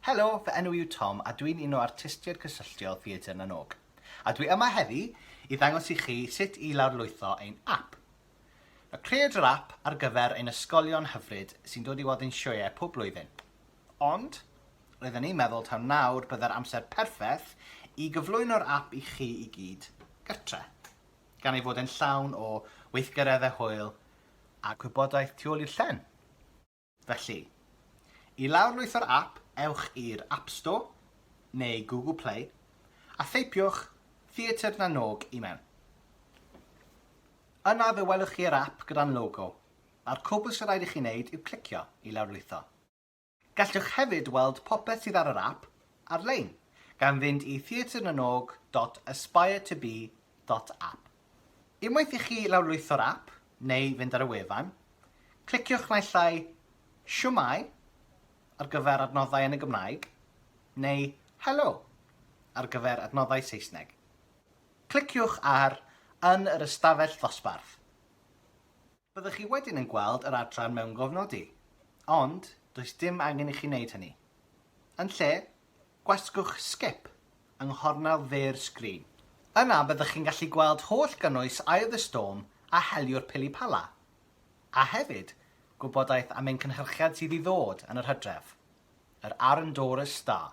Helo, fy enw yw Tom a dwi'n un o artistiaid cysylltiol Theatr na n-Og. A dwi yma heddi i ddangos i chi sut i lawrlwytho ein app. Nawr, creaid yr app ar gyfer ein ysgolion hyfryd sy'n dod i weld ein sioeau pob blwyddyn. Ond, roedden ni'n meddwl taw nawr bydde'r amser perffeth i gyflwyno'r app i chi i gyd gartre, gan ei fod e'n llawn o weithgareddau hwyl a gwybodaeth tu ôl i'r llen. Felly, i lawrlwytho'r ap, ewch i'r App Store neu Google Play a theipiwch Theatr na Nog i mewn. Yna fe welwch chi yr ap gyda'n logo, a'r cwbl sy'n rhaid i chi wneud yw clicio i lawrlwytho. Gallwch hefyd weld popeth sydd ar yr ap ar-lein, gan fynd i theatrenanog dot aspire to be dot app. Unwaith i chi lawrlwytho'r ap, neu fynd ar y wefan, cliciwch naill ai Shwmae ar gyfer adnoddau yn y Gymraeg neu Helo ar gyfer adnoddau Saesneg. Cliciwch ar Yn yr ystafell ddosbarth. Byddwch chi wedyn yn gweld yr adran mewngofnodi, ond does dim angen i chi wneud hynny. Yn lle, gwasgwch Skip yng nghornel dde'r sgrin. Yna byddwch chi'n gallu gweld holl gynnwys Eye of the Storm a Heliwr Pili-Pala, a hefyd gwybodaeth am ein cynhyrchiad sydd i ddod yn yr hydref, yr Arundorus Star.